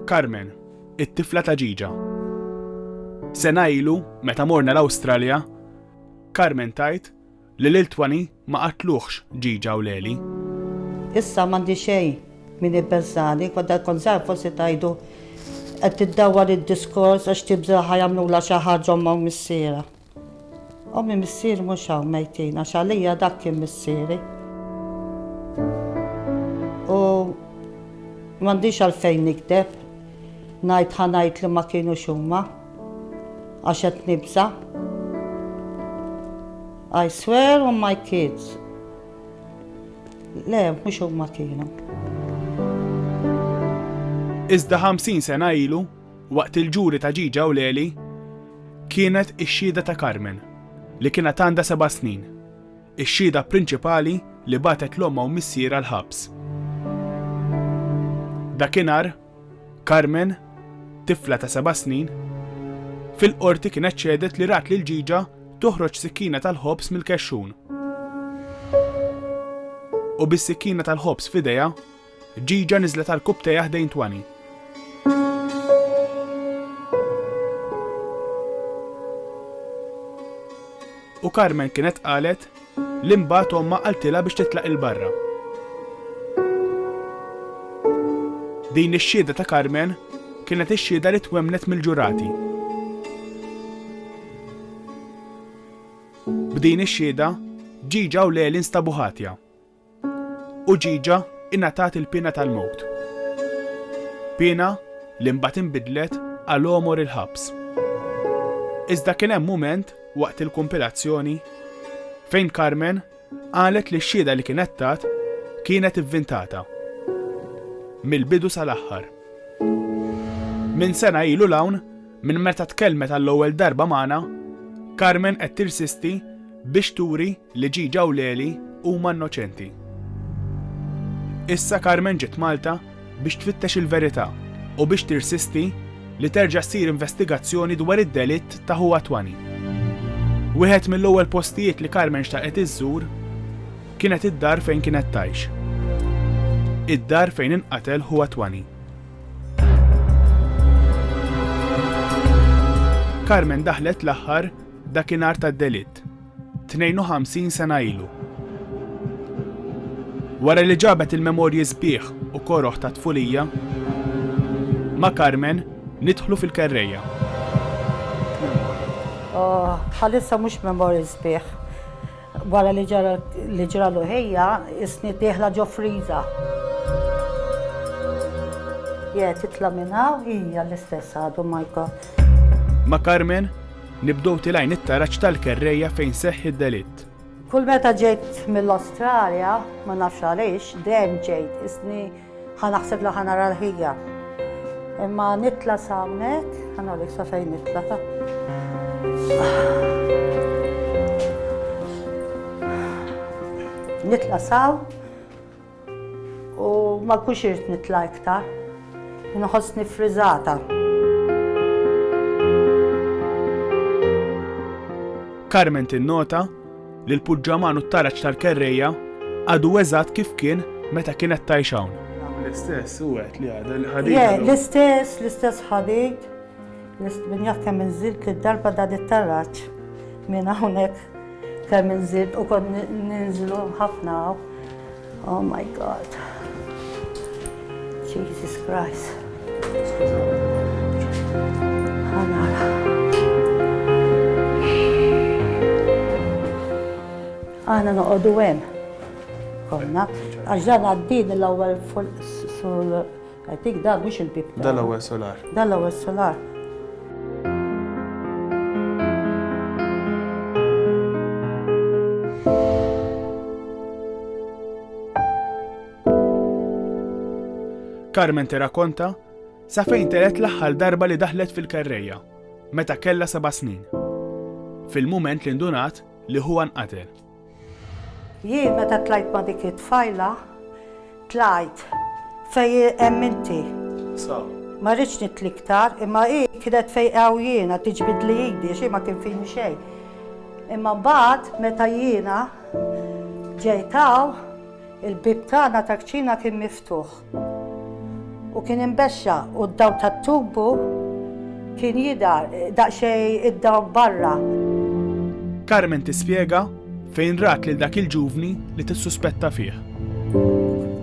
Carmen, it-tifla ta' ġiġa. Sena ilu, meta morna l-Awstralja, Carmen tgħid li lil Twani ma qatluhx ġiġa u Leli. Issa m'għandi xejn min ibbeżżani, kont kont żgħir forsi tgħidu qed tiddawwar id-diskors għax tibża' ħa jagħmlulha xi ħaġa ommha u missierha. Ommi missieri mhux hawn mejtin għax għalija dak kien missieri. U m'għandix għalfejn nikdeb ngħid ħa ngħid li ma kienu xumma għax qed nibża. I swear on my kids. Le, mhux huma kienu. Iżda 50 sena ilu, Waqt il-ġuri ta' Ġiġa u Leli kienet ix-xhieda ta' Carmen, li kienet għandha seba' snin, ix-xhieda prinċipali li bagħtet 'l ommha u missierha l-ħabs. Dakinhar, Carmen, tifla ta' seba' snin, fil-Qorti kienet xehdet li rat lil Ġiġa toħroġ sikkina tal-ħobż mill-kexxun u bis-sikkina tal-ħobż f'idejha, Ġiġa niżlet għall-kupp tejha ħdejn Twani. U Carmen kienet qalet li mbagħad omma qaltilha biex titlaq il-barra. Din ix-xhieda ta' Carmen kienet ix-xhieda li twemnet mill-ġurati. B'din ix-xhieda, ġiġa u leli nstabu ħatja. Uġiġa ingħatat il-piena tal-mewt. Piena li mbagħad inbidlet għal għomor il-ħabs. Iżda kien hemm mument waqt il-kumpilazzjoni fejn Carmen qalet li x-xhieda li kienet tat kienet ivvintata. Mill-bidu sal-aħħar. Minn sena ilu l-hawn, minn meta tkellmet għall-ewwel darba magħna, Carmen qed tirsisti biex turi Li Ġiġa u Leli huma innoċenti. Issa Carmen ġiet Malta biex tfittex il-verità u biex tirsisti li terġa' ssir investigazzjoni dwar id-delitt ta' ħuha Twani. Wieħed mill-ewwel postijiet li Carmen xtaqet iżżur kienet id-dar fejn kienet tgħix. Id-dar fejn inqatel ħuha Twani. Carmen daħlet l-aħħar dakinhar tad-delitt. 52 sena ilu. Wara li ġabet il-memorji sbieħ u koroh ta' tfulija, ma' Carmen nidħlu fil-kerrejja. Oh, bħalissa mhux memorji sbieħ. Wara li ġara li ġra l-uħejja, isni tieħla ġo friża. Je, titla' minn hawn hija l-istess għadu Michael. Ma' Carmen Nibdew tilgħin it-taraġ tal-kerrejja fejn seħħ id-delitt. Kull meta ġejt mill-Awstralja, ma nafx għaliex, dejjem ġejt isni ħa naħseb li ħa nara l-ħija. Imma nitla sawnek, ħana li sa fejn nitla ta'. Nitla saw, U ma kux irt nitla' iktar. Nħossni friżata. Carmen tinnota li l-puġġaman u t-taraġ tal-kerrejja għadu eżatt kif kien meta kienet tgħix hawn. L-istess, u għedt li għadha l-ħadid. Le, l-istess, l-istess ħadid. Nistminjah kemm inżilt li d-darba dan it-tarraġ minn hawnhekk kemm inżilt u kont ninżlu ħafna hawn. Oh my God. Jesus Christ. Aħna noqogħdu hemm. Konna, għax dan għaddin l-ewwel fuq I think da mhux il-bib ta'. Dal-ewwel solar. Dal-ewwel solar. Carmen tirrakkonta sa fejn teret l-aħħar darba li daħlet fil-karreja, meta kella seba' snin. Fil-mument li ndunat li huwa nqatel. Jien meta tlajt ma' dik it-tfajla, tlajt fejn hemm inti. Ma rridx nidħli iktar, imma hi kienet fejn hawn jiena, tiġbidli idi għax hi ma kien fini xejn. Imma mbagħad meta jiena ġejt hawn, Il-bieb tagħna tal-kċina kien miftuħ u kien imbexxa u d-dawl tat-tubu kien jidher daqsxejn id-dawl barra. Carmen tispjega fejn rat lil dak il-ġuvni li tissuspetta fih.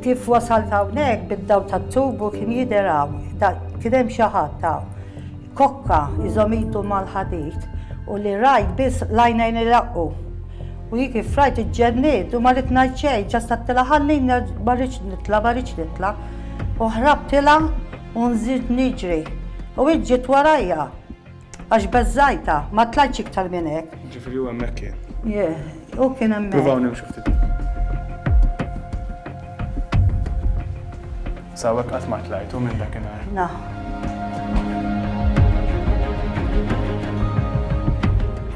Kif wasalt hawnhekk bid-dawl tat-tubu kien jidher hawn, kien hemm xi ħadd hawn. Kokka iżomm idu mal-ħadid u li rajt biss l-għajnejn iraqqu. U hi kif rajt iġġenniet u ma ridt ngħid xejn, ġast għedtilha ħalli nerġ' ma rridx nitla' ma rridx nitla' u ħrabtilha u nżidt niġri u hi ġiet warajja għax beżżajtha, ma tlajtx iktar minn hekk. Ġifieri hu hemmhekk kien? Yeah, hu kien hemmhekk. Pruvaw nimxu ftit. Sawek qatt ma tlajtu minn dakinhar. Na.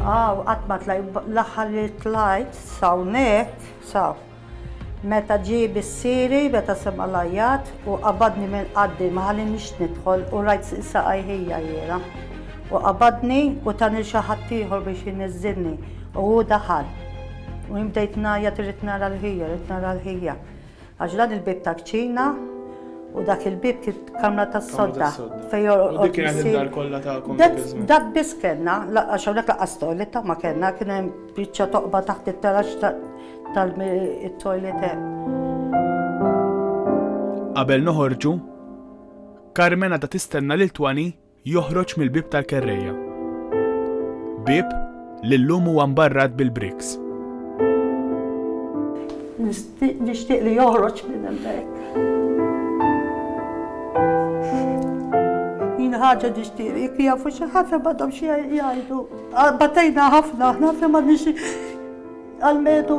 Aw, qatt ma tlajt, l-aħħar li tlajt sawnek, saw. Meta ġie bissiri, meta sema' l-għajjat u qabadni minn qaddi ma ħallinix nidħol u rajt saqajh hija jiela. U qabadni u tani lil xi ħadd ieħor biex iniżżilni u hu daħal. U jien bdejt ngħajjat irrid nara l-ħija, rrid nara l-ħija. Għax dan il-bieb ta' kċina u dak il-bieb kif kamra tas-sodda fejn jorqod. U dik kienet id-dar kollha tagħkom dak iż-żmien. Dak biss kellna, għax hawnhekk laqas toiletta ma kellna, kien hemm biċċa toqba taħt it-taraġ tal-toilet hemm. Qabel noħorġu, Carmen għadha tistenna lil Twani Joħroġ mill-bieb tal-kerrejja. Bieb li llum huwa mbarrat bil-briks. Nixtieq li joħroġ minn hemmhekk. Jien ħaġa nixtieq jekk jafu xi ħadd ma dom xi jgħidu. Batejna ħafna ħafna ma nix għal-medu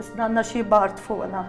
Isna għandna xi bart fuqna.